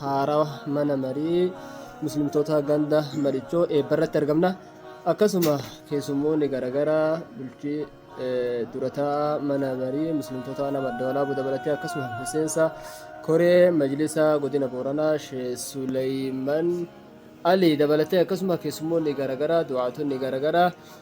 haarawa mana marii muslimtoota ganda marichoo eebbarratti argamna akkasuma keessummoonni garagaraa bulchii durataa mana marii muslimtoota nama dawalaa budabalatee akkasuma miseensa koree majlisa godina booranaa shee suleyman ali dabalatee akkasuma keessummoonni garagaraa du'aatonni garagaraa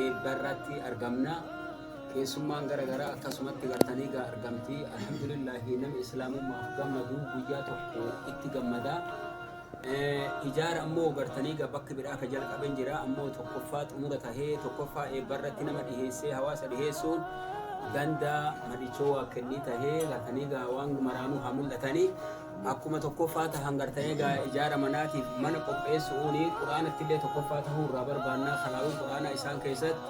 eebba irratti argamna keessummaan gara garaa akkasumatti gartanii gaa argamti alhamdulillahi nama islaamummaaf gammadu guyyaa tokko itti gammada ijaara ammoo gartanii gaa bakka biraa ka jalqaben jira ammoo tokkoffaa xumura tahee tokkoffaa eebba irratti nama dhiheessee hawaasa dhiheessuun ganda madichoo waa kennii tahee gartanii gaa waan maraanuu haa mul'atanii Akkuma tokkoffaa ta hangarta'ee gaa ijaara manaatiif mana qopheessu'uun quraanatti illee tokkoffaa tahuu irraa barbaannaa kanaa'uu quraanaa isaan keessatti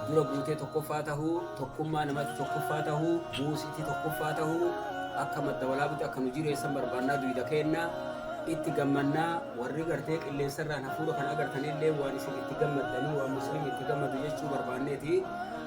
dura guutee tokkoffaa tahuu tokkummaa namatti tokkoffaa tahuu buusitti tokkoffaa tahuu akka madda walaabutti akka nu jireessan barbaannaa duyda keennaa itti gammannaa warri gartee qilleensarraan hafuura kan agartan illee waan isin itti gammaddanii waan musliim itti gammadu jechuu barbaanneeti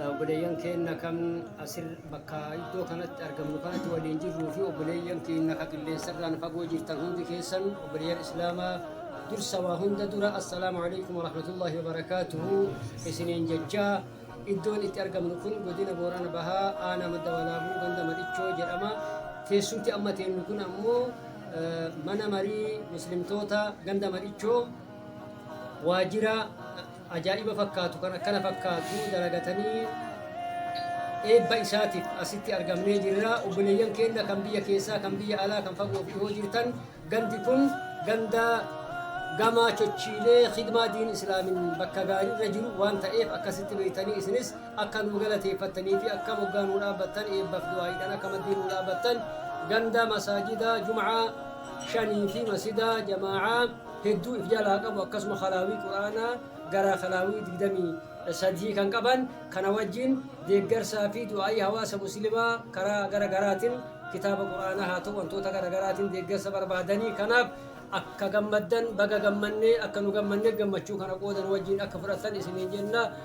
Obboleeyyan keenna kan asir bakka iddoo kanatti argamnu kanatti waliin jirruu fi obboleeyyan keenna ka qilleensarraan fagoo jirtan hundi keessan obboleeyyan Islaamaa dursa waa hunda dura assalaamu alaikum warahmatullaahi wabarakaatuhu isiniin jechaa iddoon itti argamnu kun godina Boorana Bahaa aanaa madda walaabuu ganda Madhichoo jedhama teessumti amma teennu kun ammoo mana marii muslimtoota ganda Madhichoo waajjira ajaa'iba fakkaatu kan akkana fakkaatu dalagatanii eebba isaatiif asitti argamnee jirra. Obboleeyyan keenya kan biyya keessaa, kan biyya alaa, kan fagoo fi dhihoo jirtan gandi kun ganda gamaa chochiilee khidmaa diin islaamin bakka gaarii irra jiru waan ta'eef akkasitti beektanii isinis akka nu galateeffattanii fi akka moggaa nu dhaabbattan eebbaaf du'aa'iidhaan akka maddii nu dhaabbattan ganda masaajida jum'aa shanii fi masjida jamaa'aa hedduu if jalaa qabu akkasuma kalaawii Qur'aanaa gara kalaawii 23 kan qaban kana wajjin deeggarsaa fi du'aa'ii hawaasa muslimaa karaa gara garaatin kitaaba Qur'aanaa haa ta'u wantoota gara garaatin deeggarsa barbaadanii kanaaf akka gammaddan baga gammannee akka nu gammanne gammachuu kana qooda nu wajjin akka fudhattan isiniin jenna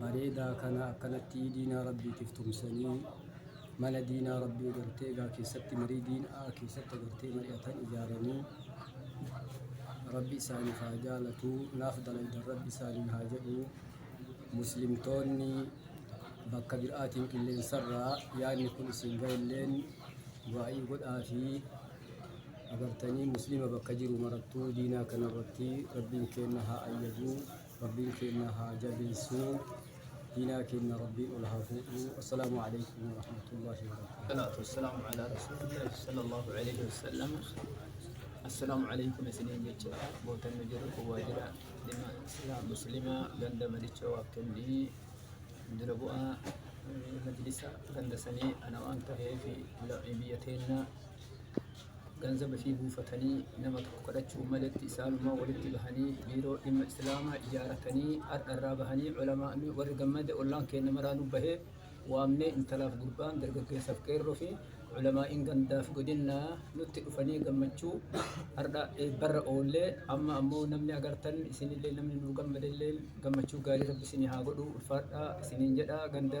bareedaa kana akkanattii diinaa rabbiitiif tumsanii mana diinaa rabbii gartee egaa keessatti marii diinaa keessatti agartee mari'atan ijaaranii rabbi isaaniif haa jaalatu naaf dalaydan rabbi isaaniin haa jedhu muslimtoonni bakka biraatiin qilleensarraa yaadni kun isin ga'elleen du'aa'ii godhaa fi agartanii muslima bakka jiru marattuu diinaa kanarratti rabbiin keenna haa ayyaduu Rabbiin keenna haa jabeessu. Diinaa keenna Rabbiin ol haa fuudhu. Assalaamu aleykum warahmatullaahi wabarakaatuh. Salaatu wassalaam alaa rasuulillaahi sallallahu aleyhi wasallam. Assalaamu aleykum isiniin jecha bootan nu jiru kun waajjira dhimma silaa muslimaa ganda madichoo waakkenni dura bu'aa majlisa ganda sanii ana waan taheef biyya teenna ganzaba fi buufatanii nama tokko kadhachuun maletti isaanumaa walitti bahanii biiroo dhimma islaamaa ijaaratanii har'a irraa bahanii ulamaa'ni warri gammade ollaan keenya maraanuu bahee waamnee intalaaf gurbaan dargaggeessaaf qeerroo fi ulamaa'iin gandaaf godinnaa nutti dhufanii gammachuu har'a eebbarra oollee amma ammoo namni agartan isinillee namni nuu gammadellee gammachuu gaarii rabbi isinii haa godhu ulfaadhaa isiniin jedha ganda